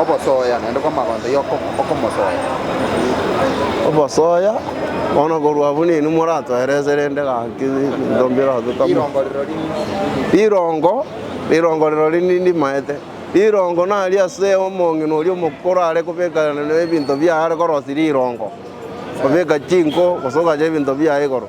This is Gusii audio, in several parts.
Obosoya naende kw'amagonto y'okomosoya. Obosoya, bono korwa abwo ninwe moratoerese rende gaki ebinto mbiratetamo. Rirongo rirori nindi. Rirongo, rirongo rirori nindi maete. Rirongo nari ase omong'ina oria omokoro are kobeka ebinto biaye are korosia rirongo, kobeka chinko gose ogacha ebinto biaye igoro.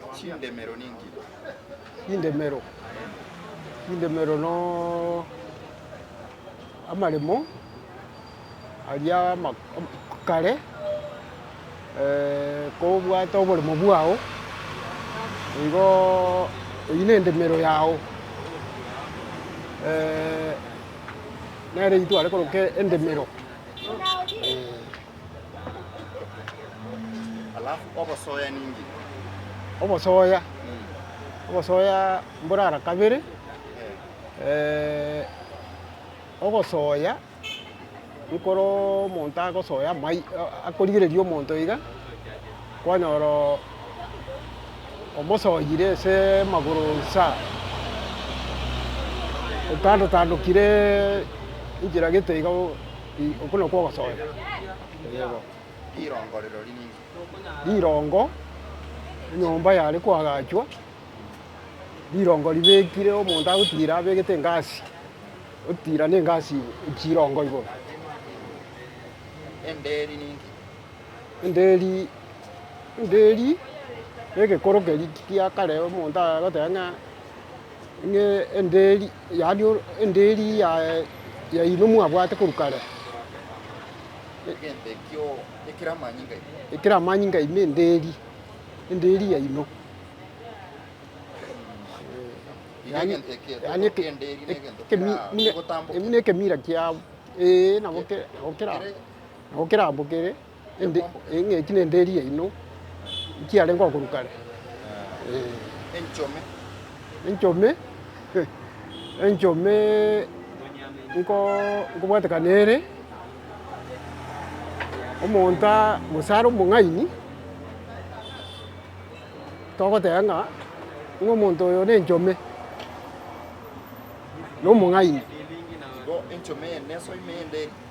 Chindemero ninki? Chindemero. Chindemero no amaremo aria kare kobwate oboremo bwao nigo eyio nendemero yao nere eyio tware koroka endemero. Obosoya ninki? Obosoya, obosoya mborara kabere, ogosoya ekero omonto agosoya amai akorigereria omonto iga, kwanyora omosoyire ase amagoro nsa, otandotandokire enchera gete iga. Okwo nokwo ogosoera. Eyebo. Rirongo rirori ning'o? Rirongo, enyomba yare koagachwa, rirongo ribekire omonto agotira abegete engasi, otira na engasi igoro, chirongo igoro. Enderi ninki? Enderi, enderi na egekoro keria kia kare omonto agoteba ng'a, ng'a enderi. Yaani endeeri yaino mwabwate korwa kare, ekero amanyinga aino endeeri, endeeri yaino, yaani buna ekemira kiabo, ee, nabo kera, nabo kera, nabo kera abo kere. eng'enki nende eria yaino nkiarenge okorwa kare. Enchome? Enchome? Enchome nko nkobwatekana ere omonto a gose are omong'aini togoteba ng'a ng'a omonto oyo ne enchome na omong'aini. Igo enchome eye nesoima eyende eria?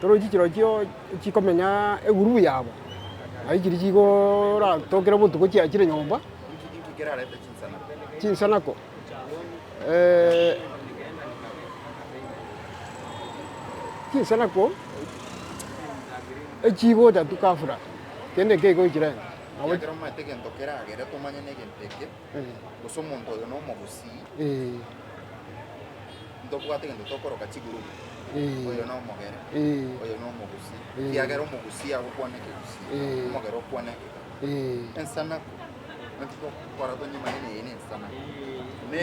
Toroche chirochio chikomenya egurubu yabo, na chiria chigoratokire botuko chiachire nyomba, chinsanako, chinsanako echigotatu ghafla, kende ekeigo echirenga. gose omonto oyo nomogusii, ntobwate gento tokoroka chigurubu, oyo nomogere, oyo nomogusii, ekiagera omogusii agokwana ekegusii, omogere okwane ekegere. Ensanaku, naki tokora tonyimanye neye nensanaku. Ne.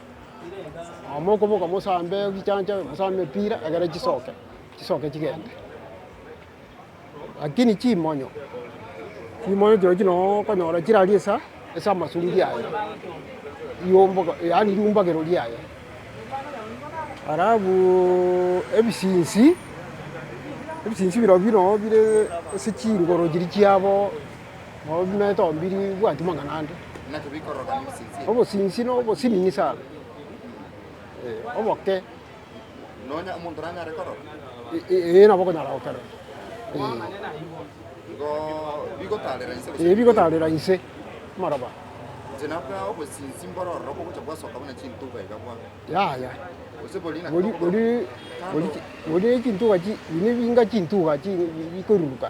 Mokoboka mosambe chichancha mosambe mipira egere chisoke chisoke chigende. Lakini chimonyo chimonyo chirochio chire noo okonyora chiraria esa ase amasungi aye riombogo yaani riumbagero riaye. Alafuuuu ebisinsi ebisinsi birobio noo bire ase chingoro chiria chiabo. Nobimeete ombiri bwanyu mang'ana ande. Obosinsi nobosinini sana, ee, oboke. Ee, nabo okonyara gokerora. Ee. Ee, bigotaarera inse amaroba. Yaya. Boria, boria, boria chintuga chi, buna ebinga chintuga chi bikoruruka.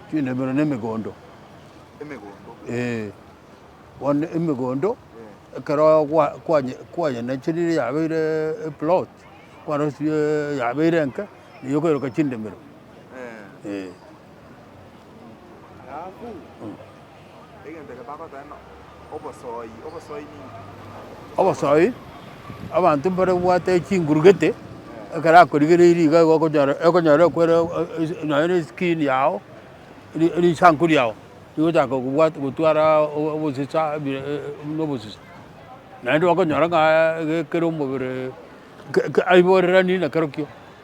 Chindemero na emegondo. Emegondo. Ee. Bono emegondo, ekero kwa- kwanye- kwanyenacherire yabeire eplot, kwarosirie yabeire enke, nigo okoiroka chindemero. Ee. Alafu. Obosooi, Abanto mbare gobwate chinguru gete, ekero akorigereiri iga igo okonyora okonyora ekwere nonye na eskin yago, ri risanku riago rigochaka kobwa gotwara obosesa ebire buna obosesa. Naende okonyora ng'a egekera omobere ke ke aiboreranie nakerokio.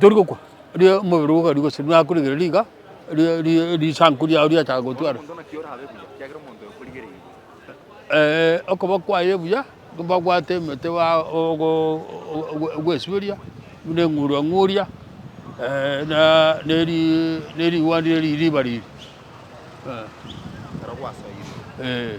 Tori gokwa, erio omobere ogo okaria gose nakoregere riga, ri- ri- risanku riao riachaka gotwara. Ee, okoba kwaye buya, mbabwate emete ba ogo ogo gwesuberia, buna eng'urua ng'uria, na neri nerigwandi eri riba riri, eh. Ee.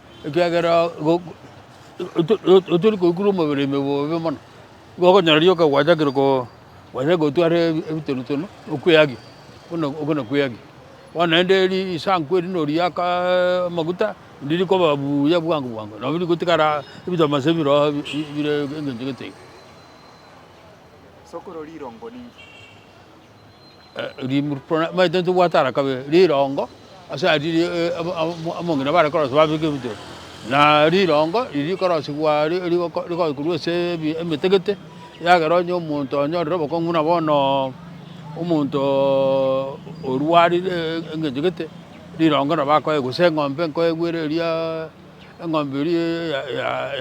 Ekiagera otori koigura omobere ime bobe mono, nigo okonyora rioka gwachakire gose gotwara ebitonotoni okweagia buna okwo na kweagia. Bono naende risanku eri noriaka amaguta rindi rikoba buya bwango bwango nabo rigotigara ebitomasa bire oo bire engencho gete iga. Maete ntobwate arakabe rirongo ase aria abamong'ina bare korosia babeke ebito, na rirongo riria rikorosigwa rigoe korwa ase emetegete, eagera onye omonto onyorire obokong'u na bono omonto orwarire eng'encho gete, rirongo nabo akoe gose eng'ombe nkoegwere eria eng'ombe eria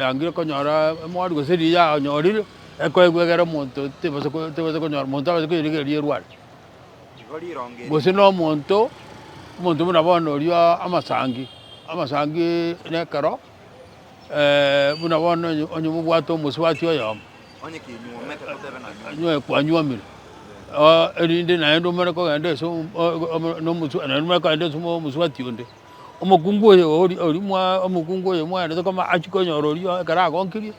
yangire konyora emori gose riria yanyorire. Ekoegwa egere omonto tebasa ko tebasa konyora monto abase koyerigereria erware. Nigo rironge Gose na omonto omonto buna bono oria amasangi amasangi na ekero buna bono onye onye mobwate omosubati oyomo onye kinyuomete totebe na nyuo. nyoe kwanyuomire oo erinde naende omare kogenda ase o- o- omo na omosu naende omanye kogenda ase omo omosubati onde. Omokungu oyo ori oria mwa omokungu oyo mwaerete koma achie konyora oria ekero agonkirie.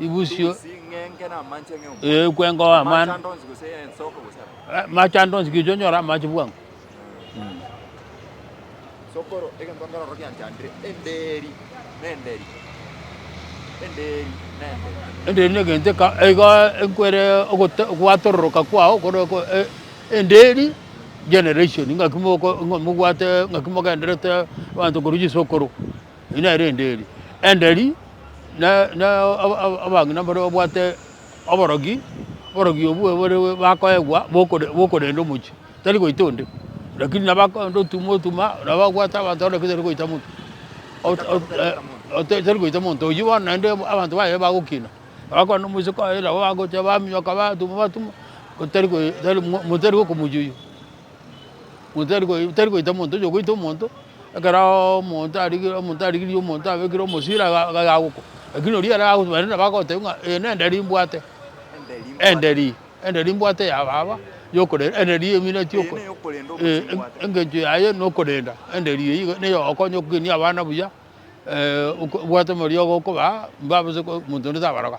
ibusio ekwengoa mani machando onsi gicha onyore amache bwango Sokoro egento nkorora gianchandire enderi nenderi enderi nenderi enderi negento eka- igo ekwere ogote- gwatororoka kwao kore oko- e- enderi generation ng'aki moko- ng'a- mobwate ng'aki mogenderete abanto korwa chisokoro Eri nere rende eri enderi abang'ina mbare babwate oborogi, oborogi obwo bore bakoegwa bokorenda omochie tari goita onde lakini nabo akonde otuma otuma nabo abwate abanto onde tari goita monto tari goita monto oyio bono naende abanto baye bagokina bakona omoiseke oye nabo bagocha baminyoka batuma batuma motari gokomochia oyio. Motari koi tari goita omonto onye ogoita omonto ekero omonto arigire omonto arigiri omonto abekire omosira iga iga yagokwa lakini oria ere ago baria nabo bagoteba ng'a eye na enderi mbwate enderi enderi mbwate ya baba yokore enderi emineti oko engencho yaye na okorenda enderi eywo iga niga egokonya okogenia abana buya obwate omorio ogo okobaa mbabase ko omonto onde tabaroga.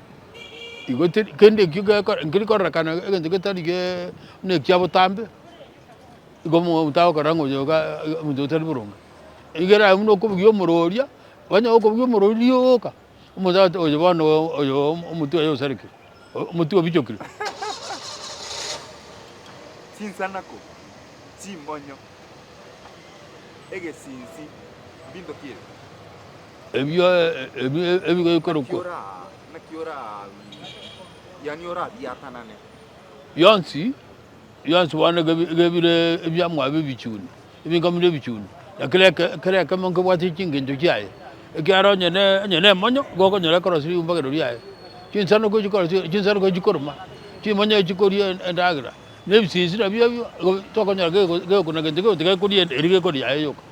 Igo teri kende ekio gekora nkeri kororekana egento getari geee buna ekia botambe, igo omo omonto agokorora ng'a oyoga iga omonto otari boronge. Igere aye buna okobugia omoro oria, onye okobugia omoro oria rioka, omonto agote oyo bono oyo omo omotwe oye osareke, o- omotwe obichokire. Chinsanako, chimonyo, egesinsi, mbinto ki ebi? Ebio ebigoikorokwa bionsi bionsi bono ebire ebiamwabo ebichuni, ebinkamo bire ebichuni, na kera kera ekemo nkebwate chingencho chiaye, ekiara onye onye nemonyo nigo okonyora ekorosi riumbogerio riaye, chinsano ko chikorosia chinsano ko chikoruma, chimonyo echi chikoria endagera, na ebisisira biabio igo tokonyora gegoku na gento gionsi gekoria eria gekoria yaye yoka.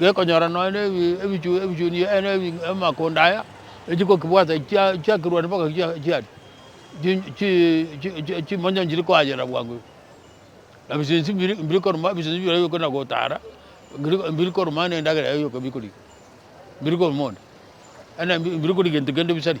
gekonyora nonya na ebichuni amakondo aya echigokebwata chiakerwani mpaka chiaria chimonyo nchiri koayera bwango iga. Na ebisinsi mbiri koruma ebisinsi bira bikona gotara mbiri koruma ne endagera yaye yoka bikori mbiri koruma onde mbiri kori gento kende bisari.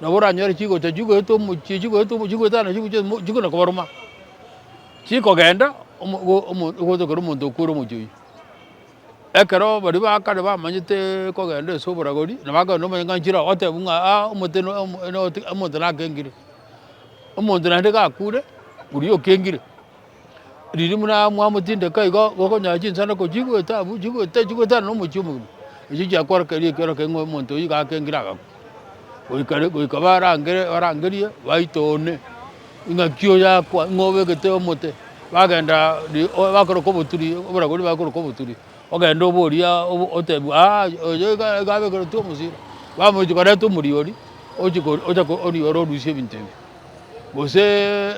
Nabo oranyore chigocha chigoeta omochie, chigoeta omochie, chigoeta naende chigocha omochie, chikona kobaruma, chikogenda ogoeta ekero omonto okwere omochie oyio. Ekero baria ba kare bamanyete kogenda ase oboragori, nabo akagenda omonyang'anchire oo otebiwe ng'a aa omote no omote omonto nakengire. Omonto naende gakure, oria okengire. riria buna mwamotindeka igo, gokonyaa chinswe nako chigoeta abwo, chigoeta, chigoeta aye nomochie omogima. Echio chiakorokereria ekioro keria ng'a omonto oyio iga akengire agakwa. Goika rero, goika barangere, barangerie, baita one, ing'aki oyakwa, ing'o obegete omote, bagenda ri o bakoroka oboturi, oboragori bakoroka oboturi, ogende oborie o- otebie aa oyo iga iga abegeretwe omosiro, bamochia korenta omoriori, ochia kor ocha kor orioro orusie ebinto ebio. gose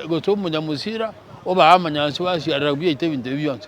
gose omonyamosira obae amanyansi basiarera biaito ebinto ebi bionsi.